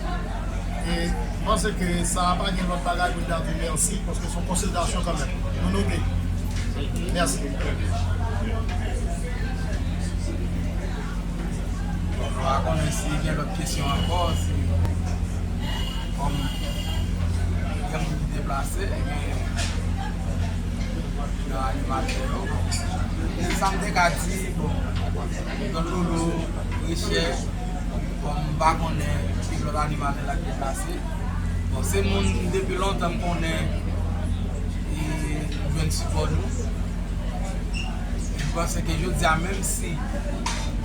e m panse ke sa a pa gen lòt bagay pou n ta di mèsi paske s on konsiderasyon kanmèm nou note l. Bon m pa konnen ki lòt animatè lap deplase. Bon se moun depi lontan m konnen e m jwenn sipò nou. M panse ke jodi a menm si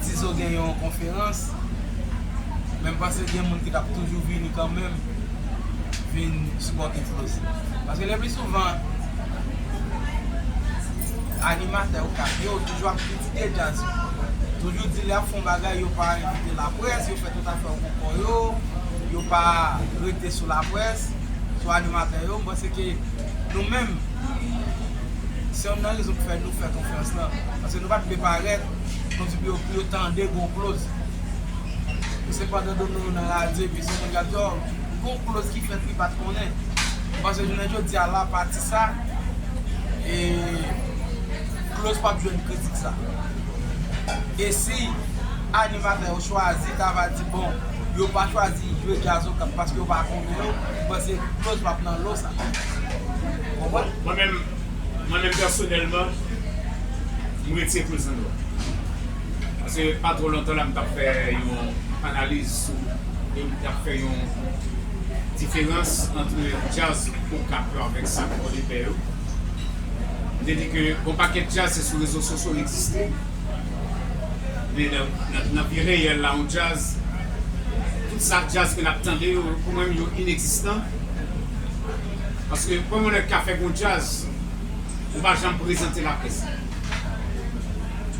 Tizo gen yon konferans men m panse gen moun ki tap toujou vini kanmenm vin sipòte Flosy. Paske le pli souvan animatè Okap yo toujou ap Kite jazz yo. Toujou di lè yap fon bagay yo pa envite la près, yo fè tout afè yo pou kò yo, yo pa rete sou la près, sou animatè yo, m panse ke nou menm se yonn nan rezon ki fè nou fè konfyans lan, paske nou pat vle parèt kon si pou yo tande gon kloz, pou se pandan Dono yo nan radyo epi se moun kap di oh gon kloz ki fèt li pat konnen, m panse jounen jodia la pati sa e. Close pap jwenn kritik sa. E si animatè yo chwazi ta va di bon yo pa chwazi jwe jazz okap paske yo pa konnen yo, m panse close pap nan lo sa. Ou konprann? Mwen menm mwen menm pèsonèlman m retire close nan lo a. Paske pa twò lontan la m tap fè yon analiz sou e m tap fè yon diferans antre jazz okap yo avèk sa pòdepè yo. M te di ke gon pakèt djaz se sou rezo sosyo l egziste. Men nan vi reyèl la yon djaz, tout sa djaz ke n ap tande yo pou mwen yo inegzistan. Paske kòman yon nèg ka fè gon djaz ou pa janm prezante l a près la.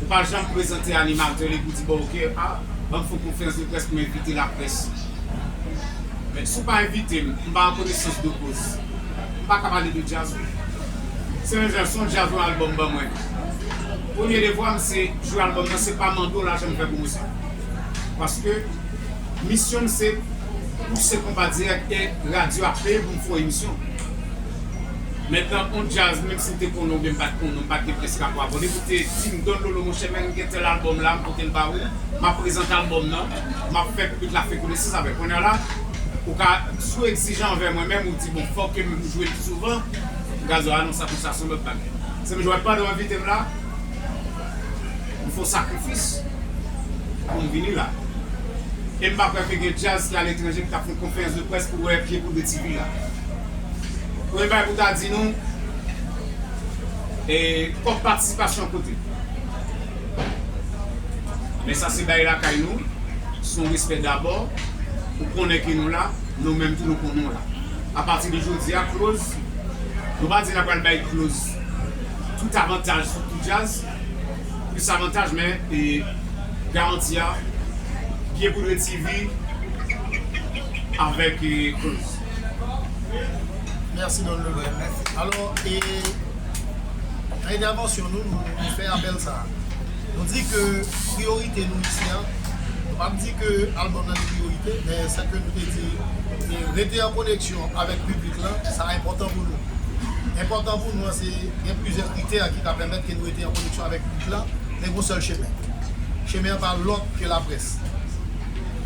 Ou pa janm prezante animatè l e pou di bon ok a ban m fè yon konferans de près pou m envite laprès. Men si w pa envite m, m pa an konesans de koz. M paka pale de djaz wi. Sè Gerson djaz lan album ban mwen tou. Premye devwa m se jwe album nan se pa mande w lajan m fè pwomosyon. Paske misyon m se pouse konpa dirèk e radyo ap peye pou m fè w emisyon. Men tan on djaz menm si m te konnen w byen m pat konnen w m pat gen pyès rapò avè w depi w te di m Don Lolo monchè men m gen tèl album la m pote l ba ou m ap prezante album nan m ap fè piblik la fè konesans avè l. Kounya la ou ka sou egzijan anvè mwen men m ou di. Bon fòkè menm jwe pi souvan gazo a non sa pou sa son lòt bagay sèm jwè pandan w envite m la m fon sakrifis pou m vini la e m pa kwè ke gen djaz ki aletranje ki tap fon konferans de près pou wè pye poudre tivi la premye bagay pou ta di nou e kòb patisipasyon kote men sa se bay lakay nou son respè dabò pou konnen ke nou la. Nou menm tou nou konnen w la. A pati de jodi a kloz, nou pa di n ap pral bay kloz tout avantaj sou tout djaz, plis avantaj men garanti a Byen Poudre TV avèk kloz. Mèsi Don Lubin. Alò, nan entèvansyon nou, nou fè apèl sa a. Nou di ke priyorite nou isi a, nou pa di ke album nan li priyorite, men se ke nou te di ke rete an koneksyon avèk piblik lan, sa enpòtan pou nou. Enpòtan pou nou an se gen plizyè kritè ki ta pèmèt ke nou rete an koneksyon avèk piblik lan, men gon sèl chemen. Chemen an pa lòt ke laprès.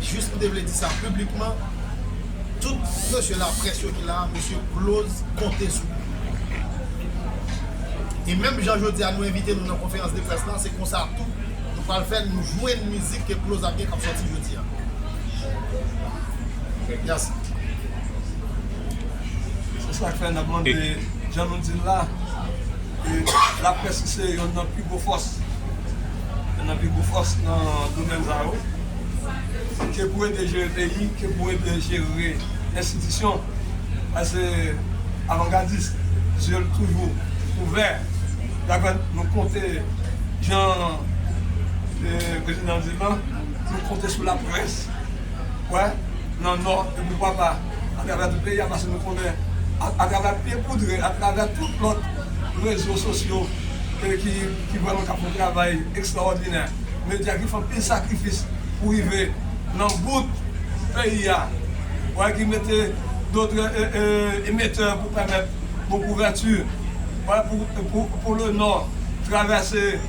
Jis nou te vle di sa piblikman, Tout mesye laprès yo ki la a mesye Close konte sou nou. E menm jan jodi a nou envite nou nan konferans de près la se konsa tou nou pral fè l nou jwenn mizik ke Close ap gen k ap sòti jodi a. Merci. Se sa k fè n ap mande jan nou di l la ke laprès ki se yonn nan pi gwo fòs, yonn nan pi gwo fòs nan domèn sa yo. Se pou yo te jere peyi ke pou yo te jere enstitisyon paske avangadis zye l toujou ouvè daprè nou konte jan prezidan di lan nou konte sou laprès wè nan nò e poukwa pa atravè tout peyi a paske nou konnen atravè pye poudre atravè tout lòt rezo sosyo ki vrèman k ap fè yon travay ekstraòdinè. medya ki fè anpil sakrifis pou rive nan bout peyi a, wè ki mete dotre emetè pou pèmèt bon kouvèti, wè pou Polo Nò travèse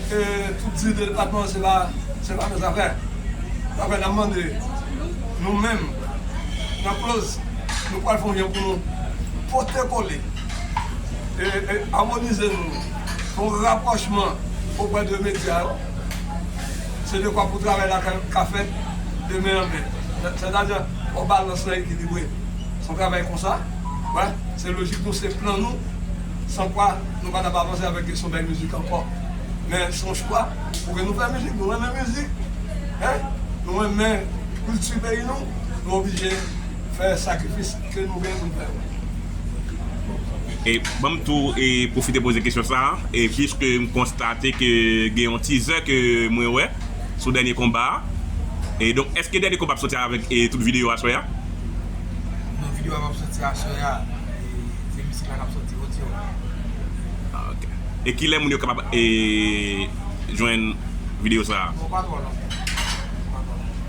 tout zil de depatman se pa se pa nan zafè. Zafè nan mande nou menm nan kloz nou pral fon jan pou nou pote kole e amonize nou. Bon rapwochman oprè de medya yo se dekwa pou travay la ka fèt de men an men. Sètadi, fò balans lan ekilibre. Se yon travay konsa, wè, se lojik nou, se plan nou, san kwa nou pa t ap avanse avèk kesyon bèl mizik ankò. Men se yon chwa pou ke nou fè mizik. Nou renmen mizik, hein, nou renmen kilti peyi nou, nou oblije fè sakrifis. Se nouvel pou n fè wi. E ban m tou e pwofite poze kesyon sa a, e puiske m konstate ke gen yon teaser ke mwen wè sou dènye konba a, e donk èske dènye konba ap soti avèk e tout videyo aswè a? Non videyo a pap soti aswè a, e se misik la kap soti, odyo a. Ah ok. E kilè moun yo kapab e jwenn videyo sa a? Bon pa twò lontan. Pa twò lontan.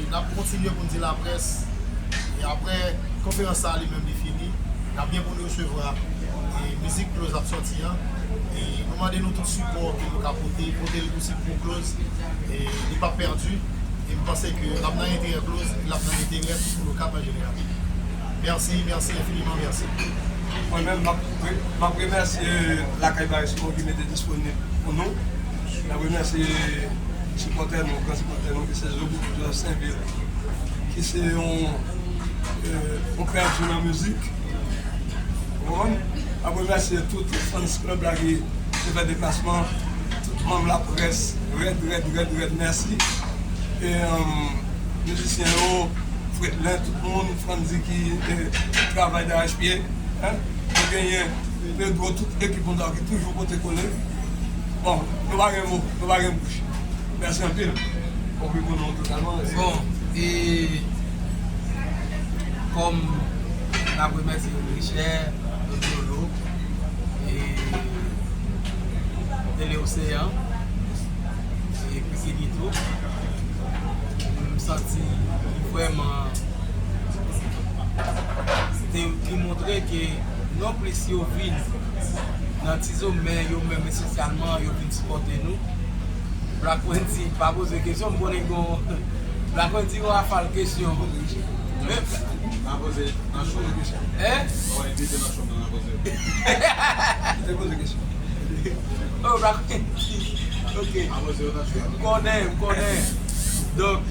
N ap kontinye pou n di laprès e aprè konferans sa a li menm li fini, n ap gen pou n resevwa mizik Cloz ap sòti an e nou mande nou tout sipò ke nou ka pote, pote l posib pou Cloz e li p ap pèdi e m panse ke l ap nan enterè Cloz e l ap nan enterè tout moun Okap an jeneral. Mèsi, mèsi enfiniman mèsi. Mwen menm m ap remèsye Lakay Barismo ki mete disponib pou nou. N ap remèsye sipòtè nou, gran sipòtè nou ki se Zoboukit Jos Senvil ki se yon pè di nan mizik. Ou konprann? N ap remèsye tout fans club la ki te fè deplasman, tout manm laprès rèd rèd rèd rèd mèsi. E mizisyen yo, Fredlin, tout moun, Frantzy ki travay darèchpye. Nou genyen. Pedro tout ekip nou sa ki toujou pote kole bon nou pa gen mo nou pa gen bouch mèsi anpil. Fok li konnen w totalman mèsi. Bon e kòm nap remèsye Richè, Don Dolo e Tele Oseyan e Christini tou m santi li vrèman se te li montre ke Non plis yo vin nan tizo men yo menm espesyalman yo vin sipòte nou Black Wendy pa poze kesyon m konnen gen yon Black Wendy gen yon rafal kesyon men Nan poze nan cho wi kesyon Ou wè envite nan cho m nan nan poze yo Yo poze kesyon Oh Black Wendy Ok M konnen m konnen Donk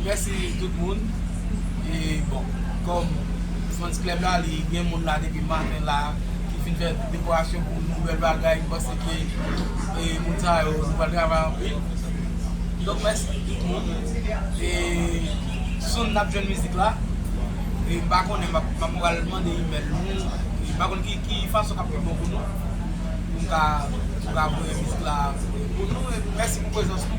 mèsi tout moun e bon kòm Fans club la li gen moun la depi maten la ki fin fè dekorasyon pou nou bèl bagay m panse ke moun sa yo nou pral travay anpil donk mèsi tout moun e soon nap jwenn mizik la e m pa konnen m pral mande email nou m pa konn ki fason kap pi bon pou nou pou m ka voye mizik la pou nou e mèsi pou prezans nou.